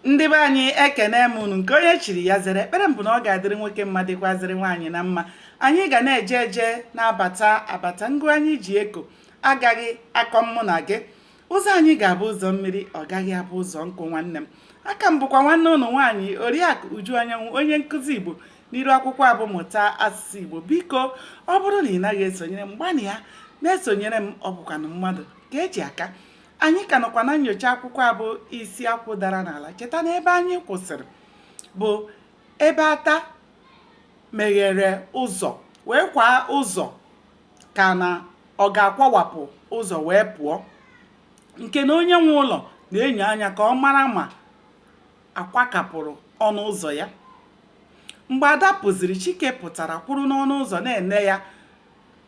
ndị be anyị ekene m unu nke onye chiri ya zere ekpere m bụ na ọ ga-adịrị nwoke mma dịkwazịrị nwaanyị na mma anyị ga na-eje eje na-abata abata ngụ anyị ji eko agaghị akọ mụ na gị ụzọ anyị ga-abụ ụzọ mmiri ọ gaghị abụ ụzọ nkụ nwanne m a ka m bụkwa nwanne unu nwaanyị oriakụ uju anyanwụ onye nkụzi igbo n'iru akwụkwọ a bụ mụta asụsụ igbo biko ọ bụrụ na ị naghị esonyere m gbanịa na-esonyere m ọ bụkwanụ mmadụ ka e ji aka anyị ka nọkwa na nyocha akwụkwọ a bụ isi akwụ dara n'ala cheta na ebe anyị kwụsịrị bụ ebe ada meghere ụzọ wee kwaa ụzọ ka na ọ ga-akwawapụ ụzọ wee pụọ nke na onye nwe ụlọ na-enyo anya ka ọ mara ma a kwakapụrụ ọnụ ụzọ ya mgbe ada pụziri chike pụtara kwụrụ n'ọnụ ụzọ na-ene ya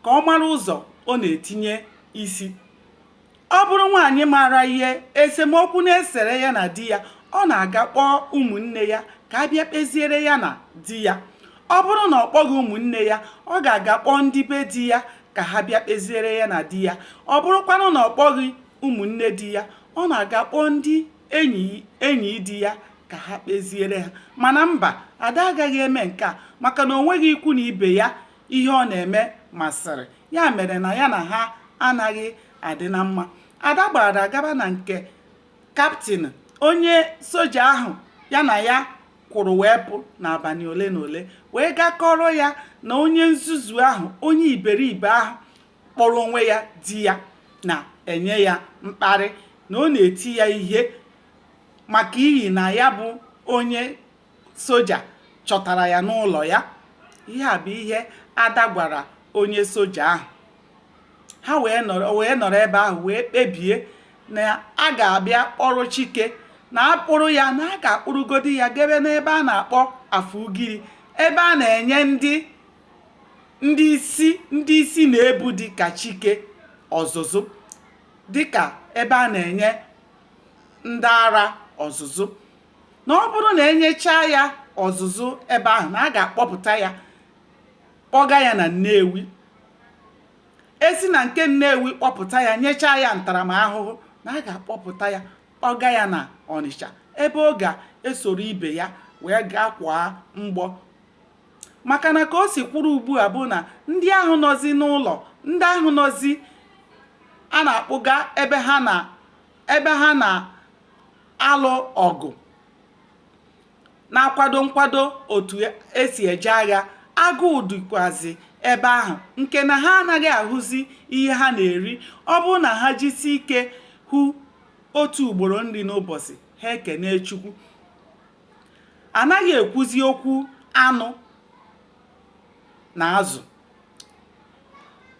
ka ọ mara ụzọ ọ na-etinye isi ọ bụrụ nwaanyị maara ihe esemokwu na-esere ya na di ya ọ na-aga kpọọ ụmụnne ya ka ha bịa kpeziere ya na di ya ọ bụrụ na ọ kpọghị ụmụnne ya ọ ga-aga kpọọ ndị be di ya ka ha bịa kpeziere ya na di ya ọ bụrụkwanụ na ọ kpọghị ụmụnne di ya ọ na-aga kpọọ ndị enyi di ya ka ha kpeziere ha mana mba ada agaghị eme nke a maka na o nweghị ikwu na ibe ya ihe ọ na-eme masịrị ya mere na ya na ha anaghị adị na mma ada gbara gaba na nke kaptịn onye soja ahụ ya na ya kwụrụ wee pụ n'abalị ole na ole wee gaa kọọrọ ya na onye nzuzu ahụ onye iberibe ahụ kpọrọ onwe ya di ya na-enye ya mkparị na ọ na-eti ya ihe maka ihi na ya bụ onye soja chọtara ya n'ụlọ ya ihe a bụ ihe ada gwara onye soja ahụ ha wee nọrọ ebe ahụ wee kpebie na a ga-abịa kpọrọ chike na a kpụrụ ya na a ga-akpụrụgodi ya gebe n'ebe a na-akpọ afugiri ebe a na-enye ndị ndị isi na-ebu dịka chike ọzụzụ dịka ebe a na-enye ndị ara ọzụzụ na ọ bụrụ na e nyechaa ya ọzụzụ ebe ahụ na a ga-akpọpụta ya kpọga ya na Nnewi e si na nke Nnewi kpọpụta ya nyechaa ya ntaramahụhụ na a ga-akpọpụta ya kpọga ya na Ọnịcha ebe ọ ga-esoro ibe ya wee gaa kwaa mgbọ maka na ka o si kwụrụ ugbu a bụ na ndị ahụ nọzi n'ụlọ ndị ahụ nọzi a na-akpụga ebe ha na ebe ha na-alụ ọgụ na-akwado nkwado otu esi eje agha agụụ dịkwazi ebe ahụ nke na ha anaghị ahụzi ihe ha na-eri ọ bụrụ na ha jisi ike hụ otu ugboro nri n'ụbọchị ha ekene chukwu anaghị ekwuzi okwu anụ na azụ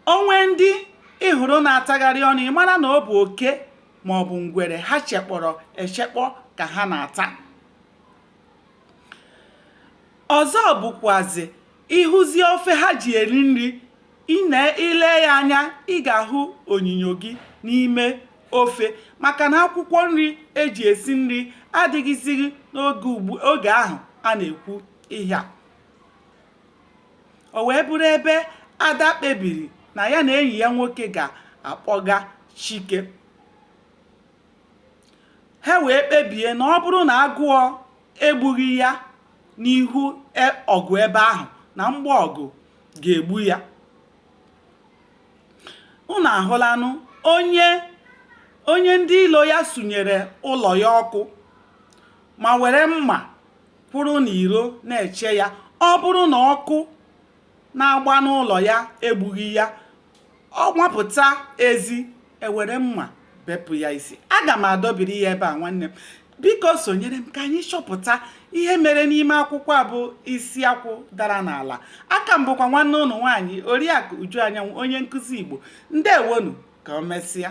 o nwee ndị ị hụrụ na-atagharị ọnụ ị mara na ọ bụ oke ma ọ bụ ngwere ha chekpọrọ echekpọ ka ha na-ata ọzọ bụkwazi ị hụzi ofe ha ji eri nri i lee ya anya ị ga-ahụ onyinyo gị n'ime ofe maka na akwụkwọ nri eji esi nri adịghịzighị n'oge ahụ a na-ekwu ihe a o wee bụrụ ebe ada kpebiri na ya na enyi ya nwoke ga-akpọga chike ha wee kpebie na ọ bụrụ na agụụ egbughị ya n'ihu ọgụ ebe ahụ na mgba ọgụ ga-egbu ya unu ahụlanụ onye ndị ilo ya sunyere ụlọ ya ọkụ ma were mma kwụrụ n'iro na-eche ya ọ bụrụ na ọkụ na-agba n'ụlọ ya egbughị ya ọ wapụta ezi e were mma bepụ ya isi aga m adọbiri ya ebe a nwanne m biko sonyere m ka anyị chọpụta ihe mere n'ime akwụkwọ a bụ isi akwụ dara n'ala a ka m bụkwa nwanne unu nwaanyị oriakụ uju anyanwụ onye nkụzi igbo ndewonu ka o mesịa